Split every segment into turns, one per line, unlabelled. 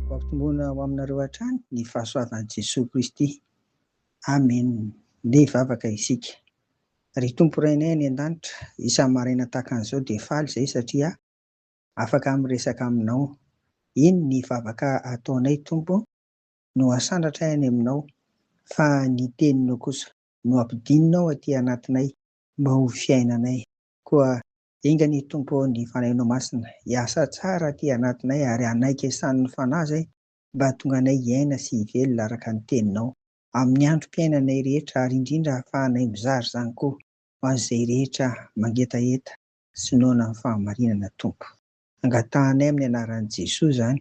Hoampitombona ho aminareo hatrany ny fahasoavan'i Jesoa Kristy. Amen. Ndeha hivavaka isika. Ry Tompo Rainay any an-danitra, isan'ny maraina tahaka an'izao dia faly izay satria afaka miresaka aminao. Eny, ny vavaka ataonay Tompo no asandratray any aminao, fa ny teninao kosa no ampidinina ao aty anatinay Mba ho fiainanay. Koa enga anie Tompo ô ny Fanahinao Masina hiasa tsara aty anatinay ary hanaiky esanin'ny Fanahy izay mba hahatonga anay hiaina sy hivelona araka ny Teninao amin'ny androm-piainanay rehetra ary indrindra hahafahanay mizara izany koa ho an'izay rehetra mangetaheta sy noana ny fahamarinana Tompo. Angatahanay amin'ny anaran'i Jesoa izany.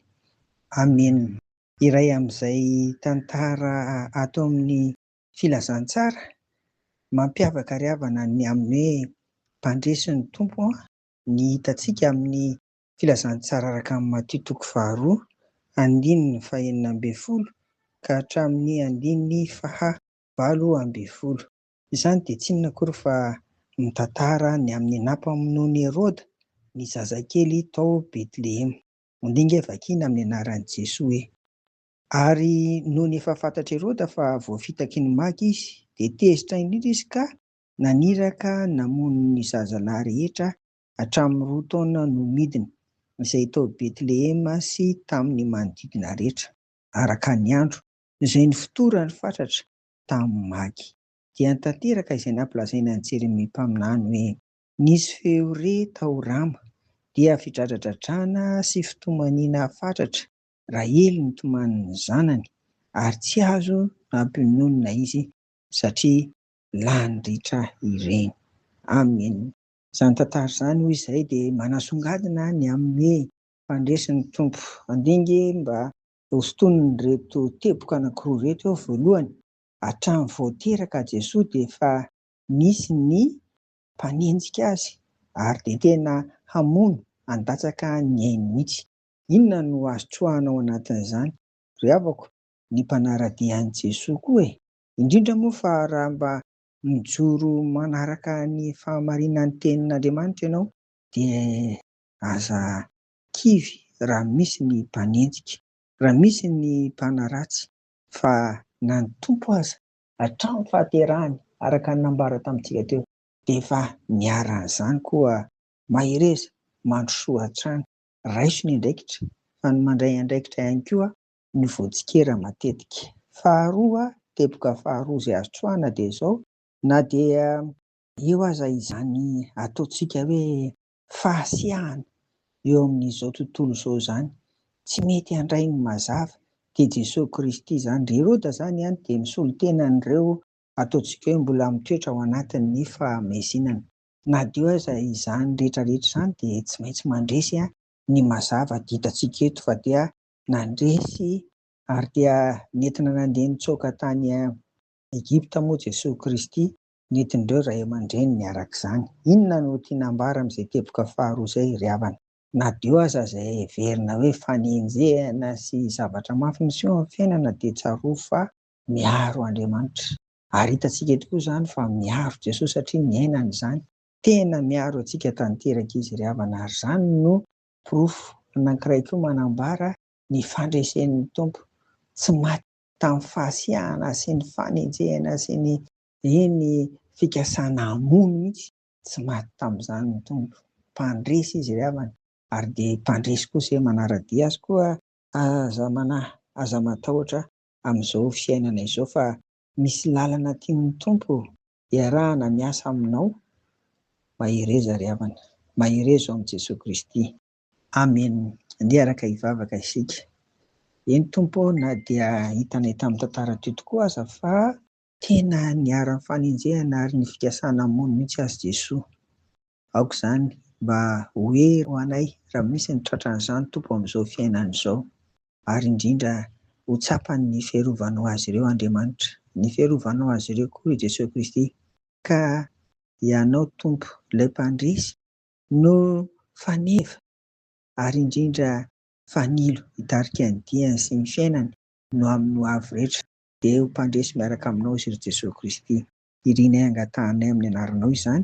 Amena. Iray amin'izay tantara ato amin'ny. Filazantsara mampiavaka ry havana ny amin'ny hoe mpandresy ny Tompo an! Ny hitantsika amin'ny Filazantsara araka an'i Matio toko faharoa andininy fahenina ambin'ny folo ka hatramin'ny andininy faha valo ambin'ny folo. Izany dia tsy inona akory fa mitantara ny amin'ny nampamonoan'i Heroda ny zazakely tao Betlehema. Mandinga e, vakiana amin'ny anaran'i Jesoa e. Ary nony efa fantatr'i Heroda fa voafitaky ny maty izy, dia tezitra indrindra izy ka naniraka namono ny zazalahy rehetra hatramin'ny roa taona no midina, izay tao Betlehema sy tamin'ny manodidina rehetra, araka ny andro, izay nifotorany fatratra tamin'ny maty. Dia tanteraka izay nampilazaina an'i Jeremia mpaminany hoe, Nisy feo re tao Rama, dia fidradradradrana sy fitomaniana fatratra Rahely nitomany ny zanany ary tsy azo nampiononina izy satria lany ritra ireny. Amen. Izany tantara izany hoy izay dia manasongadina ny amin'ny fandresin'ny Tompo. Handinge mba hosintonin'ireto teboka anankiroa ireto aho, voalohany, hatramin'ny vao teraka Jesoa dia efa nisy ny mpanenjika Azy ary dia tena hamono handatsaka ny ainy mihitsy. Inona no azo tsoahana ao anatin'izany, ry havako, ny mpanara-dia an'i Jesoa koa e! Indrindra moa fa raha mba mijoro manaraka ny fahamarinan'ny Tenin'Andriamanitra ianao dia aza kivy raha misy ny mpanenjika, raha misy ny mpanaratsy fa na ny Tompo aza, hatramin'ny fahaterahany araka ny nambara tamintsika teo, dia efa niharan'izany koa mahereza mandrosoa hatrany raiso ny andraikitra fa ny mandray andraikitra ihany koa no voatsikera matetika. Faharoa, teboka faharoa izay azo trohana dia izao, na dia eo aza izany ataontsika hoe fahasiahana eo amin'izao tontolo izao izany, tsy mety handray ny mazava, dia Jesoa Kristy izany. Ry Heroda izany dia misolo tena an'ireo ataontsika hoe mbola mitoetra ao anatin'ny fahamezinana. Nadio aza izany rehetra rehetra izany dia tsy maintsy mandresy ny mazava dia hitantsika eto fa dia nandresy ary dia nentina nandeha nitsoaka tany Egypta moa Jesoa Kristy nentin'ireo ray aman-dreniny araka izany. Inona no tiana ambara amin'izay teboka faharoa izay ry havana? Nadio aza izay heverina hoe fanenjehana sy zavatra mafy miseho amin'ny fiainana dia tsarovy fa miaro Andriamanitra. Ary hitantsika eto koa izany fa miaro Jesosy satria niainany izany. Tena miaro antsika tanteraka Izy ry havana ary izany no porofo anankiray koa manambara ny fandresen'ny Tompo tsy maty tamin'ny fahasiahana sy ny fanenjehana sy ny eny fikasana hamono mihitsy. Tsy maty tamin'izany ny Tompo. Mpandresy Izy ry havana ary dia mpandresy koa izay manara-dia Azy koa. Aza manahy, aza matahotra amin'izao fiainana izao fa misy lalana tian'ny Tompo hiarahana miasa aminao, mahereza ry havana, mahereza ao amin'i Jesoa Kristy. Amen, andeha araka hivavaka isika. Eny Tompo ô na dia hitanay tamin'ny tantara teo tokoa aza fa. Tena niharan'ny fanenjehana ary ny fikasana hamono mihitsy azy Jesoa. Aoka izany mba ho hery ho anay raha misy ny tratran'izany Tompo amin'izao fiainana izao, ary indrindra ho tsapan'ny fiarovanao azy ireo Andriamanitra, ny fiarovanao azy ireo koa i Jesoa Kristy, ka Ianao Tompo ilay Mpandresy no faneva ary indrindra fanilo hitarika ny diany sy ny fiainany no amin'ny ho avy rehetra, dia ho mpandresy miaraka aminao izy ry Jesoa Kristy, irinay angatahanay amin'ny anaranao izany